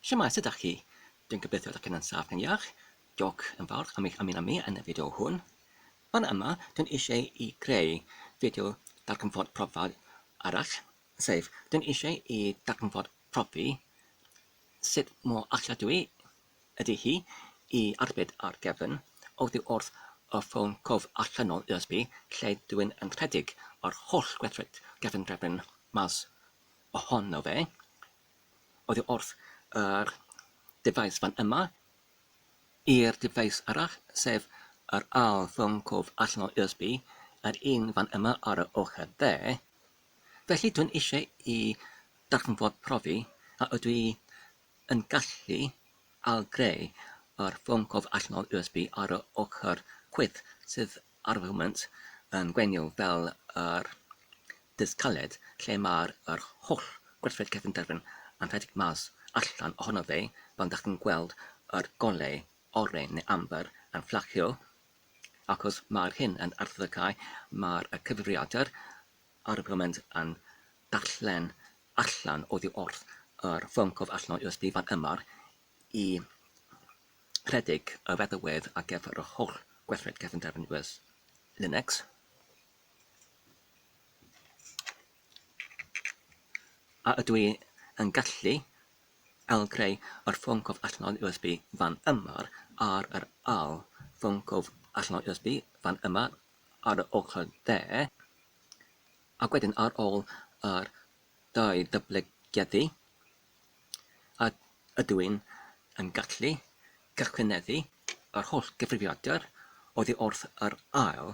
Shwmae, sut dach chi? Dwi'n gobeithio dach chi'n ansaf neu'n iach. Diolch yn fawr am eich ymuno mi yn y fideo hwn. Fan yma, dwi'n eisiau i greu fideo darganfod profad arall, sef dwi'n eisiau i darganfod profi sut mor alladwy ydy hi i arbed ar gefn oddi wrth y ffôn cof allanol USB lle dwi'n yn rhedeg yr holl gweithred gefndrefn mas ohono fe oddi wrth yr dyfais fan yma i'r dyfais arall, sef yr ail ffôn cof allan o USB, yr un fan yma ar y ochr dde. Felly dwi'n eisiau i darganfod profi a ydw i yn gallu ailgreu yr ffôn cof allan o USB ar y ochr chwith sydd ar y foment yn gweiniol fel yr Dydd caled lle mae'r yr holl gwerthoedd cefnderfyn yn rhedeg mas allan ohono fe pan dach chi'n gweld yr golau oren neu amber yn fflachio achos mae'r hyn yn arddegau mae'r y cyfrifiadur ar y foment yn darllen allan oddi wrth yr ffôn cof allan o USB fan yma i rhedeg y feddalwedd ar gyfer yr holl gwerthoedd cefnderfyn US Linux. A ydw i yn gallu ail-greu yr ffôn cof allanol USB fan yma ar yr ail ffôn cof allanol USB fan yma ar yr ochr dde, ac wedyn ar ôl yr dau ddatblygiadu, a ydw i yn gallu cychwyneddu yr holl gyfrifiadur oddi wrth yr ail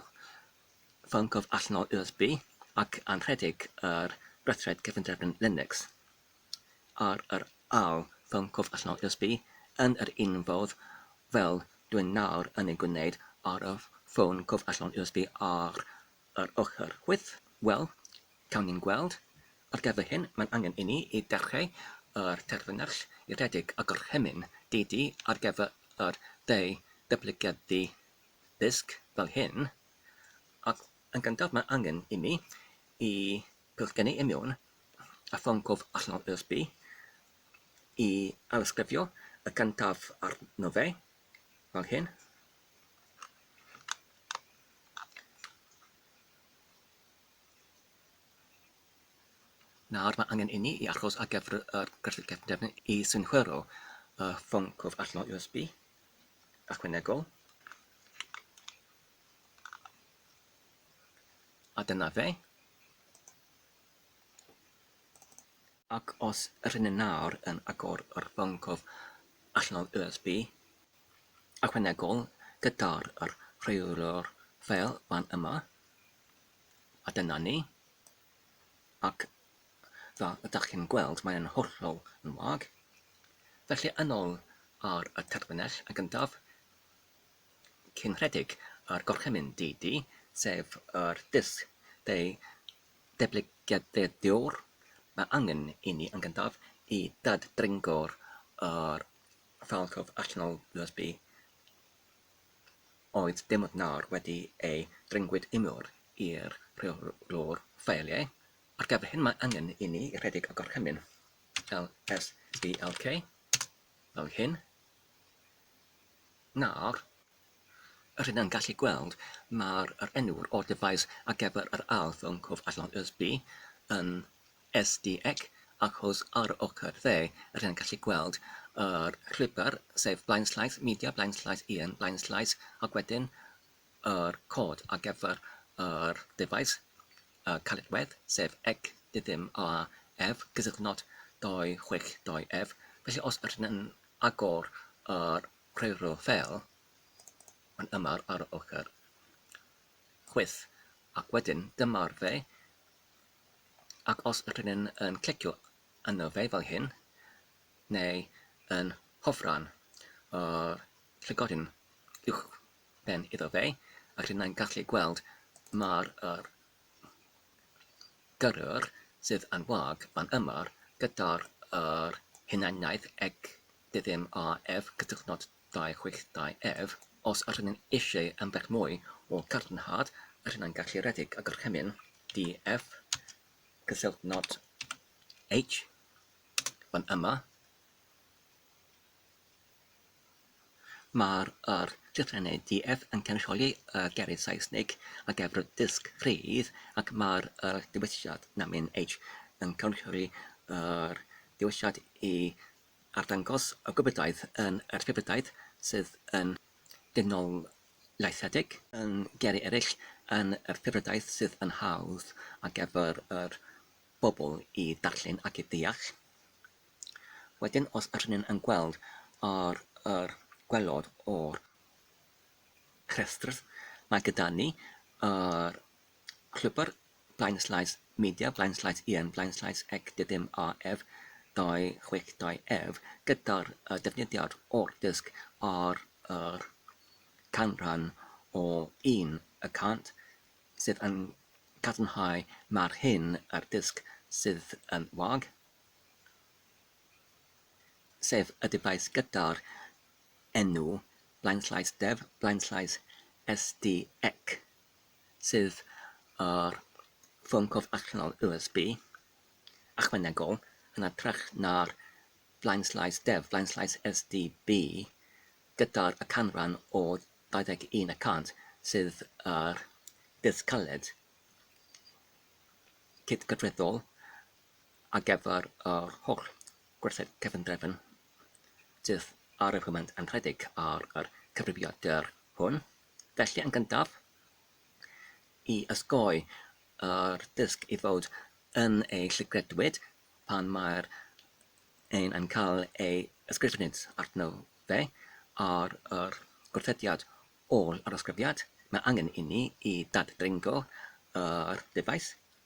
ffôn cyfr allanol USB ac anrhedeg yr Rethred Cyfundrefn Linux ar yr ail ffôn cyfr allanol USB yn yr un fodd fel dwi'n nawr yn ei gwneud ar y ffôn cyfr allanol USB ar Yr oherwydd? Wel, cawn ni'n gweld. Ar gyfer hyn, mae'n angen inni i dechrau â'r terfynau rhedeg a gorchymyn deudy ar gyfer yr ddau ddatblygiaddy dysg fel hyn, ac yn gyntaf mae angen inni i pillgynnu i mewn a ffôn cof allan o'r USB, i ailysgrifio y cyntaf arno fe, fel hyn. Nawr mae angen inni i achos ar gyfer yr gwerthu cefndefn i synhwyro y ffôn cwf allanol USB ychwanegol. A dyna fe. Ac os rŷn ni nawr yn agor yr fangor allanol USB ychwanegol gyda'r yr rheolwr ffeil fan yma, a dyna ni, ac fel y dach chi'n gweld mae e'n hollol yn wag, felly yn ol ar y terfynell yn gyntaf cyn rhedeg yr gorchymyn DD, sef yr disg deu Datblygiadurwr, Mae angen i ni yn gyntaf i dad-dringo'r yr falchaf allanol USB oedd dim ond nawr wedi ei dringwyd imwr i'r rheolwr ffeiliau. Ar gyfer hyn mae angen i ni rhedeg y gorchymyn lsdlk fel hyn. Nawr, yr hyn yn gallu gweld, mae'r yr enw'r o'r dyfais ar gyfer yr ardd yn cof allan o'r ysby yn SDEC achos ar yr ochr dde, yr hyn yn gallu gweld, yr llwybr, sef blaenllaeth, media, blaenllaeth un, blaenllaeth, ac wedyn yr cod ar gyfer yr dyfais, y caledwedd, sef ec dy ddim a ef, gysylltnod 26 2 ef. Felly os yr hyn yn agor yr rheilffordd fel yn aml ar yr ochr chwith ac wedyn dyma'r dde ac os ydyn ni yn clicio arno fe fel hyn neu yn hofran yr llygoden uwchben iddo fe rydyn ni'n gallu gweld mae'r Gyrwyr sydd yn wag fan yma gyda'r yr hunaniaeth ag dydym a ef cytunodd dau chwech dau ef os yr hynny'n eisieu ambell mwy o gadarnhad yr hynna'n galluredig a gorchymyn di ef cysylltnod H fan yma Mae'r yr llythrennau DF yn cynrychioli y gerdd Saesnig ac F yr dysg rhydd, ac mae'r yr dewisiad namin H yn cynrychioli yr dewisiad i arddangos y gwybodaeth yn yr rhybudaeth sydd yn dynoliaethedig, yn geri eraill, yn yr rhybudaeth sydd yn hawdd ar gyfer yr bobl i ddarllen ac i ddeall. Wedyn os ydyn yn gweld ar yr gwaelod o'r rhestr mae gyda ni yr llwybr Blaen Slides Media, Blaen Slides Ian, Blaen Slides Ec Dydym AF 262 ef gyda'r uh, defnyddiad o'r dysg ar yr canran o 1 y cant sydd yn cadarnhau mae'r hyn a'r dysg sydd yn wag. sef y dyfais gyda'r enw blaenllaes def, blaenllaes SD ec, sydd ar ffôn cof allanol USB ychwanegol, yn hytrach na'r blaenllaes def, blaenllaes SD bu, gyda'r y canran o 21 y cant sydd ar ddydd caled cydgyfreddol ar gyfer yr holl gwerthoedd cefndrefn sydd ar y foment yn rhedeg ar yr cyfrifiadur hwn. Felly, yn gyntaf, i ysgoi yr dysg i fod yn ei llygredwyd pan mae'r ein yn cael ei ysgrifennydd arno fe ar yr gwrthediad ôl yr ysgrifiad, mae angen inni i dad-dringo yr ddyfais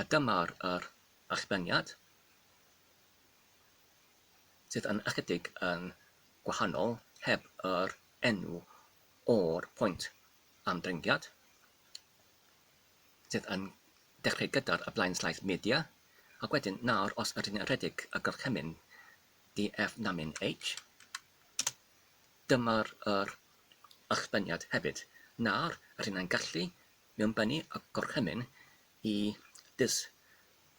A dyma'r yr allbeniad, sydd yn ychydig yn gwahanol heb yr enw o'r pwynt am dringiad, sydd yn dechreu gyda'r y blaenllaeth media, ac wedyn nawr os ydyn ni'n rhedeg y gorchymyn DF namin H, dyma'r yr allbeniad hefyd. Nawr, rydyn ni'n gallu Mewn bani a gorchymyn i dys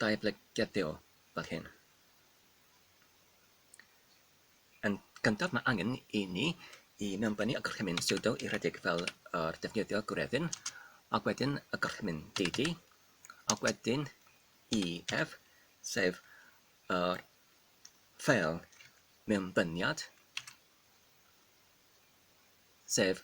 daeblegyadeo fel hyn. Yn gyntaf mae angen i ni i mewn bani a gorchymyn siwdo i rhedeg fel yr defnyddio gwreddyn, ac wedyn y gorchymyn DD, ac wedyn EF, sef yr ffeil mewnbyniad, sef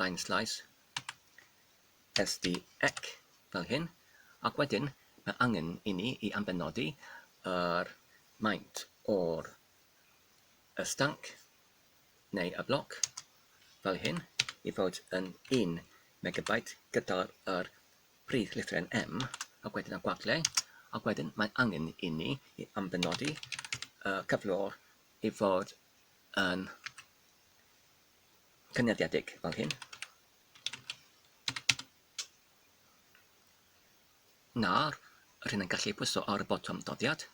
line slice sd ec fel hyn ac wedyn mae angen i ni i ambenodi yr maint o'r y stanc neu y bloc fel hyn i fod yn 1 megabyte gyda'r yr prif llythryn M ac wedyn y gwagle ac wedyn mae angen i ni i ambenodi y cyflwr i fod yn cynnyddiedig fel hyn. Nawr, rydyn yn gallu pwyso ar y botwm doddiad.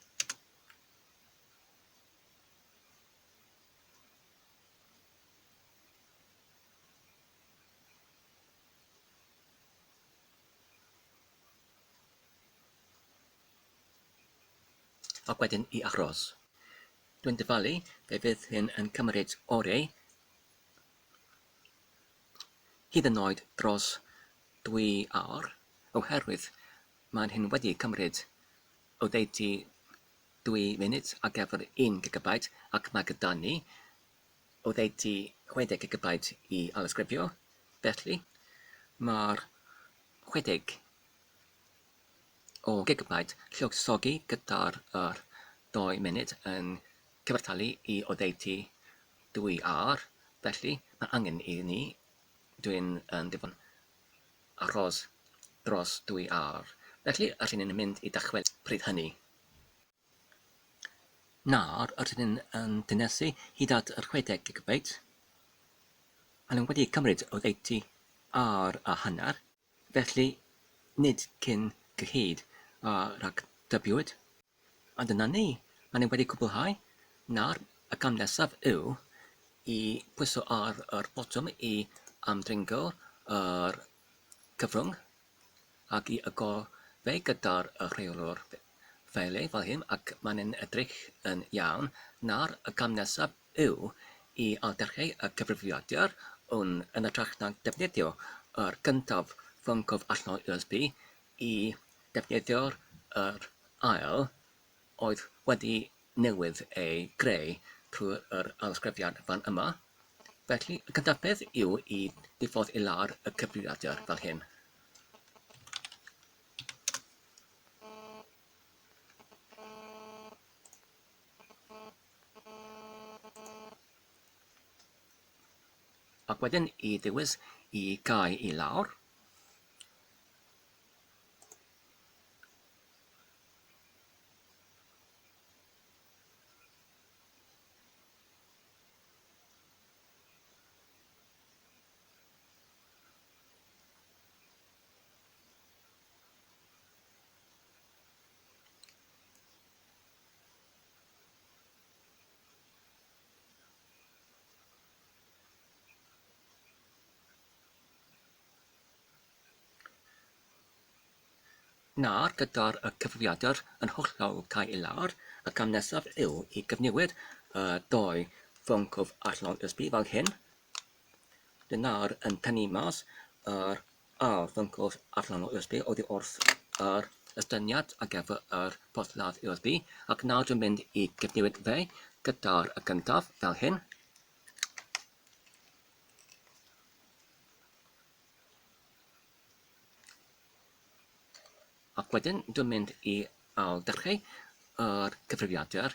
ac wedyn i aros. Dwi'n dyfalu fe fydd hyn yn cymryd oreu, hyd yn oed dros dwy awr, oherwydd mae'n hyn wedi cymryd oddeutu dwy funud ar gyfer un gigabyte ac mae gyda ni oddeutu 60 gigabyte i ailysgrifio, felly mae'r 60 o gigbaid lluosogi gyda'r yr ddou munud yn cyfartalu i oddeutu dwy âr, felly mae angen i ni, dwi'n yn ddigon, aros dros dwy âr. Felly, yr rydyn ni'n mynd i ddychwelyd pryd hynny. Nawr, yr rydyn ni yn cynhesu hyd at yr 60 gigbaid. Maen nhw wedi cymryd oddeutu âr a hanner. Felly, nid cyn gyhyd a rhagdybiwyd, ond yna ni, maen nhw wedi cwblhau, nawr y cam nesaf yw i bwyso ar yr botwm i ymddringo yr cyfrwng ac i agor fe gyda'r rheolwr ffeili fel hyn ac maen nhw'n edrych yn iawn, nawr y cam nesaf yw i aldarllu y cyfrifiadur hwn yn hytrach na defnyddio yr gyntaf, ffôn cof allanol USB, i ddefnyddio'r yr ail, oedd wedi newydd ei greu trwy'r arddisgrifiad fan yma. Felly, y cyntaf peth yw i ddiffodd i lawr y cyfrifiadur fel hyn. Thank you. Ac wedyn i ddewis i gau i lawr. Nawr, gyda'r cyfrifiadur yn hollol cael ei lawer, y cam nesaf yw i gyfnewid y dou fwncwf allan o'r USB fel hyn. Dwi nawr yn tynnu mas yr A'r ffyncws allanol USB oddi wrth yr estyniad ar gyfer yr porthladd USB, ac nawr dwi'n mynd i gyfnewid fe gyda'r y gyntaf, fel hyn. Ac wedyn dwi'n mynd i ail-ddechrau yr cyfrifiadur.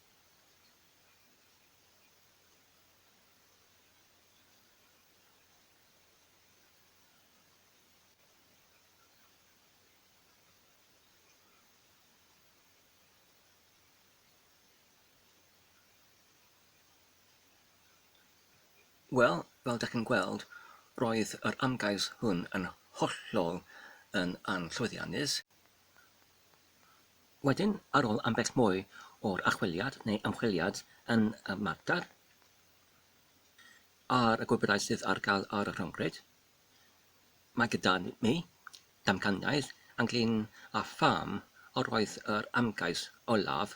Wel, fel dych chi'n gweld, roedd yr ymgais hwn yn hollol yn anllwyddiannus. Wedyn, ar ôl ambell mwy o'r archwiliad neu ymchwiliad yn y mater ar y gwybodau sydd ar gael ar y rhyngrwyd, mae gyda mi damcaniaeth ynglŷn â pham yr oedd yr ymgais olaf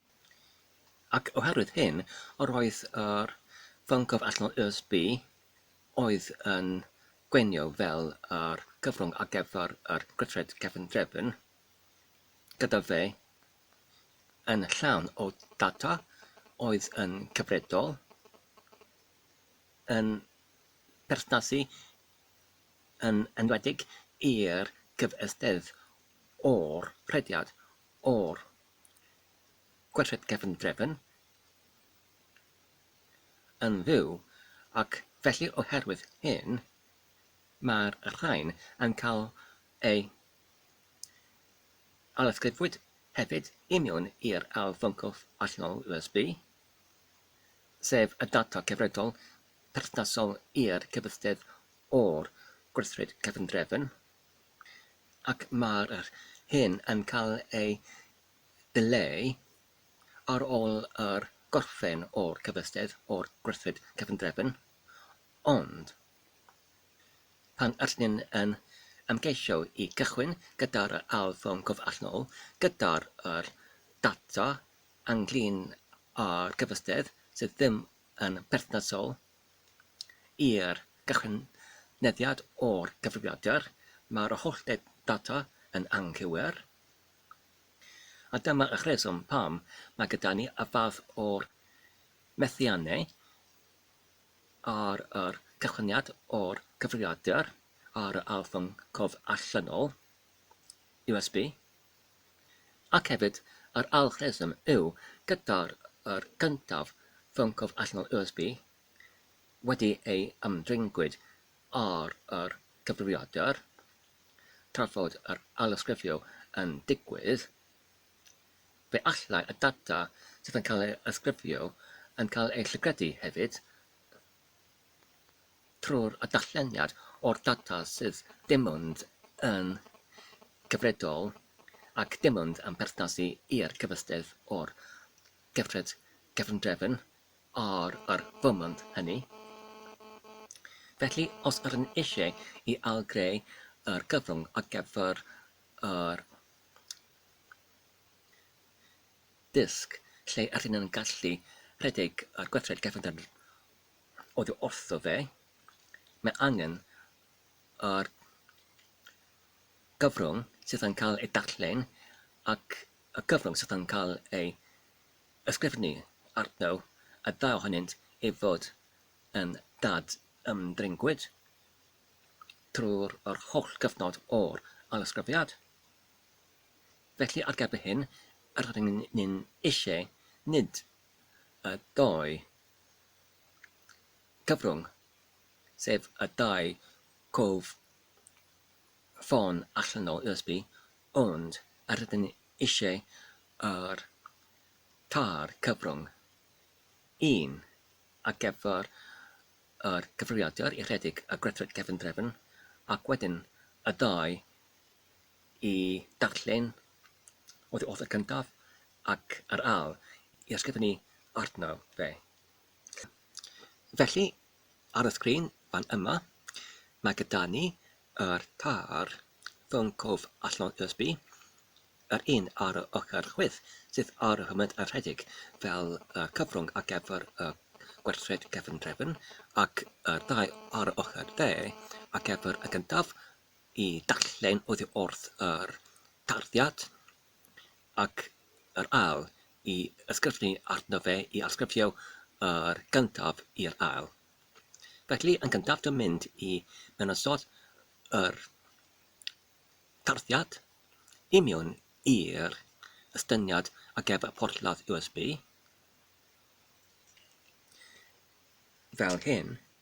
Ac oherwydd hyn, yr oedd yr fyncof allanol USB oedd yn gwenio fel yr cyfrwng ar gyfer yr gweithred cefndrefn gyda fe yn llawn o data oedd yn cyfredol yn perthnasu yn enwedig i'r cyfystydd o'r rhediad o'r Gweithred gefn drefn yn fyw ac felly oherwydd hyn mae'r rhain yn cael eu ailysgrifwyd hefyd i mewn i'r ail fwncwlff allanol USB, sef y data cyfredol perthnasol i'r cyfystydd o'r gweithred gefn drefn. ac mae'r yr hyn yn cael ei ddileu ar ôl yr gorffen o'r cyfystydd o'r gweithred cyfundrefn, ond pan ydyn yn ymgeisio i gychwyn gyda'r yr ail ffurm cof allanol gyda'r yr data ynglŷn â'r cyfystydd sydd ddim yn berthnasol, i'r gychwyneddad o'r cyfrifiadur, mae'r holl ddata yn anghywir, a dyma y rheswm pam mae gyda ni y fath o methiannau ar yr cychwyniad o'r cyfrifiadur ar yr arddangosfa allanol, USB, ac hefyd yr algorithm yw gyda'r yr gyntaf ffôn cof allanol USB wedi ei ymddengyd ar yr cyfrifiadur tra fod yr ailysgrifio yn digwydd, fe allai y data sydd yn cael ei ysgrifio yn cael ei llygredu hefyd. trwy'r addashleniad o'r data sydd dim ond yn gyfredol ac dim ond yn perthnasu i'r cyfystedd o'r gyfred gefndrefn ar yr foment hynny. Felly, os ydyn eisiau i ail-greu yr gyfrwng ar gyfer yr dysg lle ydyn yn gallu rhedeg yr gweithred gefndrefn oddi wrtho fe, mae angen yr cyfrwng sydd yn cael ei darllen ac y cyfrwng sydd yn cael ei ysgrifennu arno, y ddau ohonynt i fod yn dad-ymddringwyd trwy'r yr holl gyfnod o'r ailysgrifiad. Felly, ar gyfer hyn, rydyn ni'n eisiau nid y dou cyfrwng, sef y dau cof ffôn allanol USB, ond yr ydym ni eisiau yr tair cyfrwng, un ar gyfer yr cyfrifiadur i rhedeg y gweithred cefndrefn ac wedyn y ddau i darllen oddi wrth y cyntaf ac ar âl i ysgrifennu arno fe. Felly, ar y sgrin fan yma, mae gyda ni yr tair ffôn cof allan USB, yr un ar yr ochr chwith sydd ar y foment yn rhedeg fel y cyfrwng ar gyfer y gwerthusiad cefndrefn, ac yr ddau ar yr ochr dde ar gyfer y gyntaf i darllen oddi wrth yr tarddiad, ac yr ail i ysgrifennu arno fe i arsgrifio yr gyntaf i'r ail. Felly, yn gyntaf dwi'n mynd i menysod yr tarddiad i mewn i'r estyniad a gef y porthladd USB fel hyn.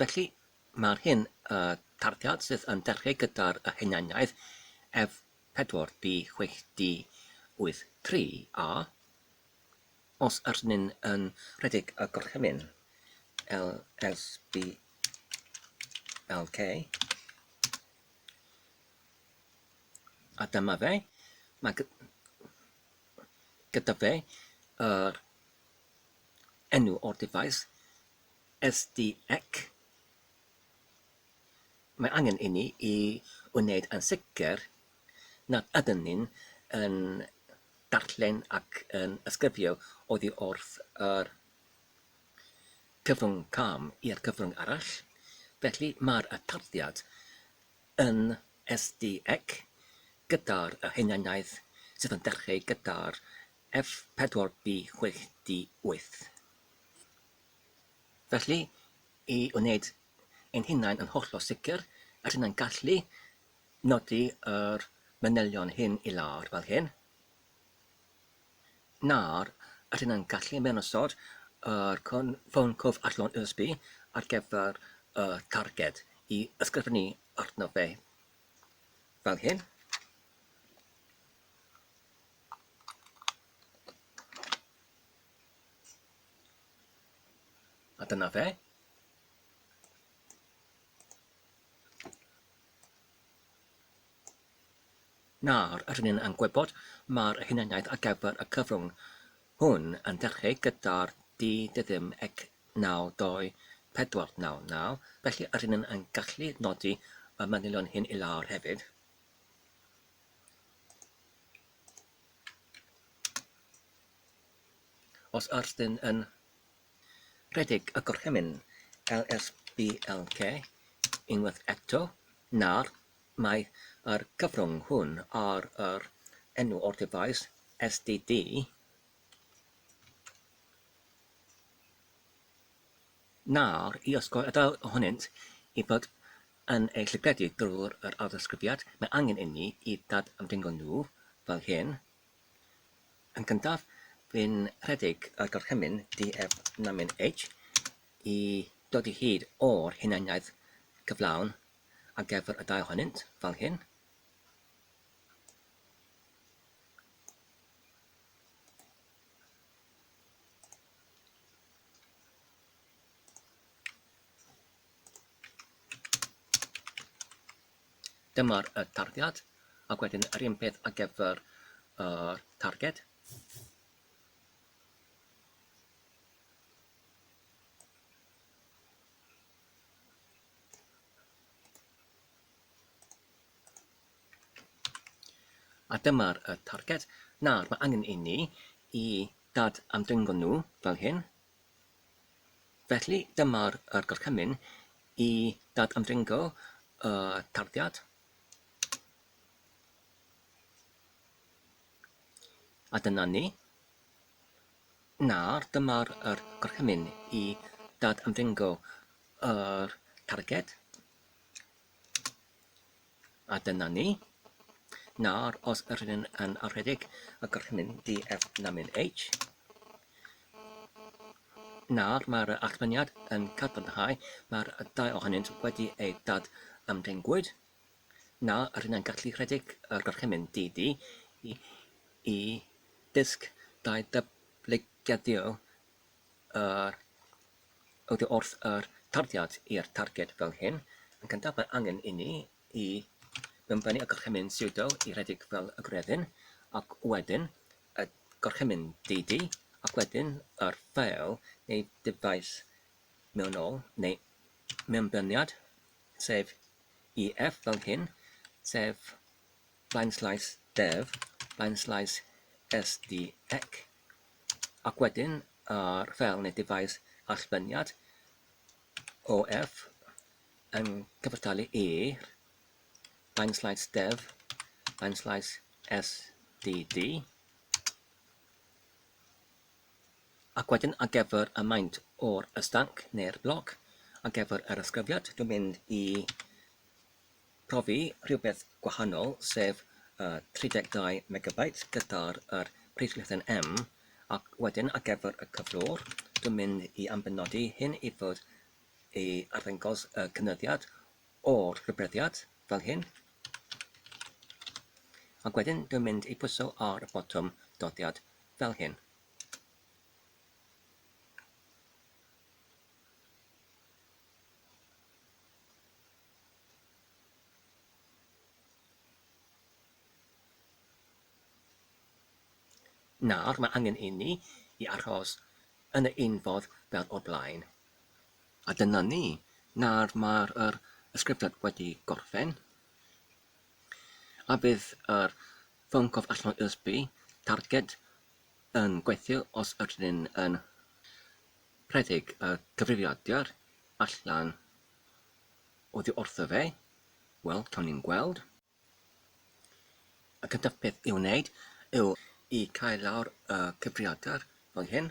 Felly, mae'r hyn y tarddiad sydd yn dechreu gyda'r y hunaniaeth F 4 D 6 D 8 3 A, os yr nyn yn rhedeg y gorchymyn L S B L K, a dyma fe, mae gyda fe yr enw o'r dyfais SDEC, mae angen inni i wneud yn sicr nad ydyn ni yn darllen ac yn ysgrifio oddi wrth yr cyfrwng cam i'r cyfrwng arall, felly mae'r tarddiad yn SDEC gyda'r hunaniaeth sydd yn dechrau gyda'r F4B6D8. Felly, i wneud ein hunain yn hollol sicr, rydyn ni'n gallu nodi yr manylion hyn i lawr fel hyn. Nawr, rydyn ni'n gallu ymddangosod yr ffôn cof arllon USB ar gyfer y targed i ysgrifennu arno fe fel hyn. A dyna fe. Nawr, rydyn ni'n yn gwybod mae'r hunaniaeth ar gyfer y cyfrwng hwn yn dechrau gyda'r di dyddym ec 9249, felly rydyn ni'n yn gallu nodi y manylion hyn i lawr hefyd. Os oes dyn yn rhedeg y gorchymyn LSBLK unwaith eto, nawr mae yr cyfrwng hwn ar yr enw o'r dyfais SDD, nawr i osgoi y ddau ohonynt i fod yn eu llygledu drwy'r ailddisgrifiad, mae angen inni i ddad-ymddingo nhw fel hyn. Yn gyntaf, bu'n rhedeg y gorchymyn DF Namin H i ddod i hyd o'r hunaniaeth gyflawn ar gyfer y dau ohonynt, fel hyn. Dyma'r tarddiad, ac wedyn yr un peth ar gyfer yr targed. A dyma'r targed. Nawr, mae angen i ni i dad amdringo nhw fel hyn. Felly, dyma'r gorchymyn i dad-ymdringo y tarddiad a dyna ni. Nawr, dyma'r gorchymyn i dad-ymdringo yr targed. A dyna ni. Nawr, os yr hyn yn arhedig ac yr hyn di F na min H, nawr mae'r allfyniad yn cadarnhau mae'r dau ohonynt wedi eu dad ymddengwyd. Nawr, yr hyn yn gallu rhedeg yr orchymyn di di i, i ddysg dau dyblygiadio yr oddi wrth yr tarddiad i'r targed fel hyn. Yn gyntaf mae angen inni i mewnbennu y gorchymyn siwdo i redeg fel y gwreddyn, ac wedyn y gorchymyn didi, ac wedyn yr ffeil neu dyfais mewnol neu mewnbeniad, sef EF fel hyn, sef blaenslais def, blaenslais SDEC, Ac wedyn ar fel neu dyfais allbyniad OF yn cyfartalu i'r I'm slice dev, I'm slice sdd. Ac wedyn ar gyfer y maint o'r ystanc neu'r bloc, ar gyfer yr ysgrifiad, dwi'n mynd i profi rhywbeth gwahanol sef y 32 megabyte gyda'r yr prifddiffen M ac wedyn ar gyfer y cyflwr dwi'n mynd i ambenodi hyn i fod i arddangos y cynyddiad o'r rhybuddiad fel hyn ac wedyn dwi'n mynd i pwyso ar y botwm doddiad fel hyn. Nawr mae angen inni i aros yn y un ffordd fel o'r blaen. A dyna ni, nawr mae'r yr ysgrifiad wedi gorffen, a bydd yr ffôn cof allan o USB targed yn gweithio os ydyn ni'n yn rhedeg y cyfrifiadur allan Oddi wrtho fe? Wel, cawn ni'n gweld. Y cyntaf peth i'w wneud yw i cael lawr y cyfriadr fel hyn.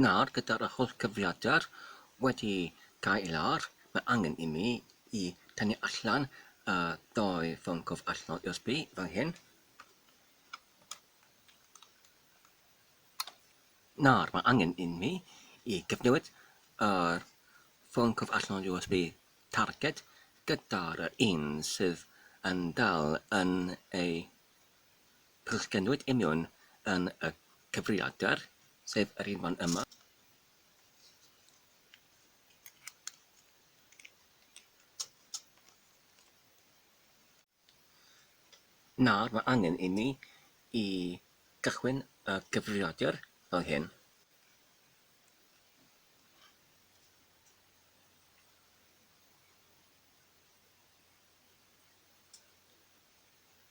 Nawr, gyda'r holl gyfrifiadur wedi cael ei lawer, mae angen i mi i tynnu allan y ddau ffôn cof allnol USB fan hyn. Nawr, mae angen i mi i gyfnewid yr ffôn cof allnol USB targed gyda'r un sydd yn dal yn ei Plisgynwyd union yn y cyfrifiadur, sef yr un fan yma. Nawr mae angen i ni i gychwyn y gyfrifiadur fel hyn.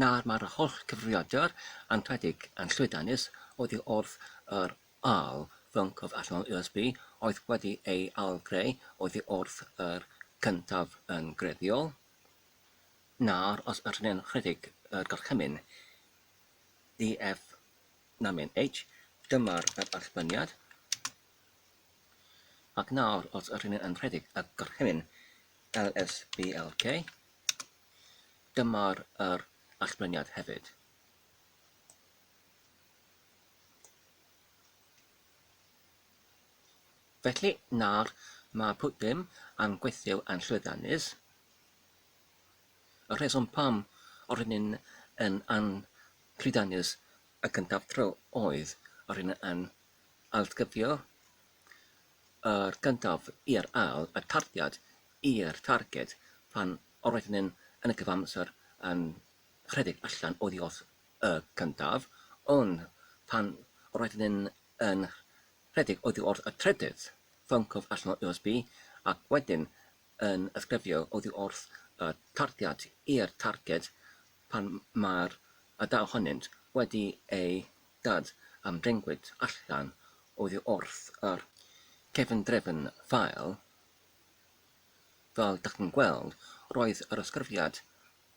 Nawr mae'r holl gyfrifiadur anrhydedig yn llwyddiannus oddi wrth yr ail fync o allanol USB oedd wedi ei ailgreu oddi wrth yr cyntaf yn greiddiol. Nawr os ydyn ni'n rhedeg y gorchymyn DFnamyn H, dyma'r archmyniad. Ac nawr, os ydyn ni yn rhedeg y gorchymyn LSBLK, dyma'r yr allbliniad hefyd. Felly, nawr mae pwt ddim yn gweithio yn llwyddiannus. Y rheswm pam o'r hyn yn yn llwyddiannus y cyntaf tro oedd o'r hyn yn Ailgyfio o'r gyntaf i'r ail a tarddiad i'r targed pan roeddwn yn y cyfamser yn rhedeg allan oddi wrth y cyntaf, ond pan roeddwn yn rhedeg oddi wrth y trydydd, ffyncodd allan o USB ac wedyn yn ysgrifio oddi wrth y tarddiad i'r targed pan mae'r dau ohonynt wedi eu Dad am dengwyd allan oddi wrth yr cefndrefn fel, fel dach chi'n gweld, roedd yr ysgrifiad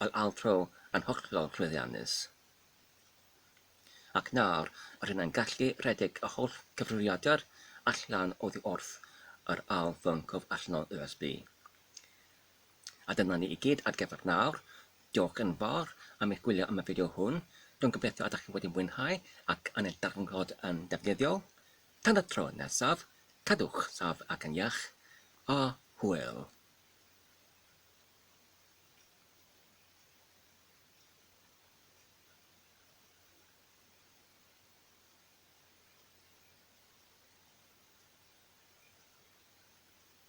El Altro yn hollol llwyddiannus. Ac nawr rydyn yn gallu rhedeg y holl cyfrifiadur allan oddi wrth yr ail ffôn cof allanol USB. A dyna ni i gyd ar gyfer nawr. Diolch yn fawr am eich gwylio am y fideo hwn. Rwy'n gobeithio y dach chi wedi mwynhau ac yn ei darganfod yn ddefnyddiol. Tan y tro nesaf, cadwch saf ac yn iach, a hwyl!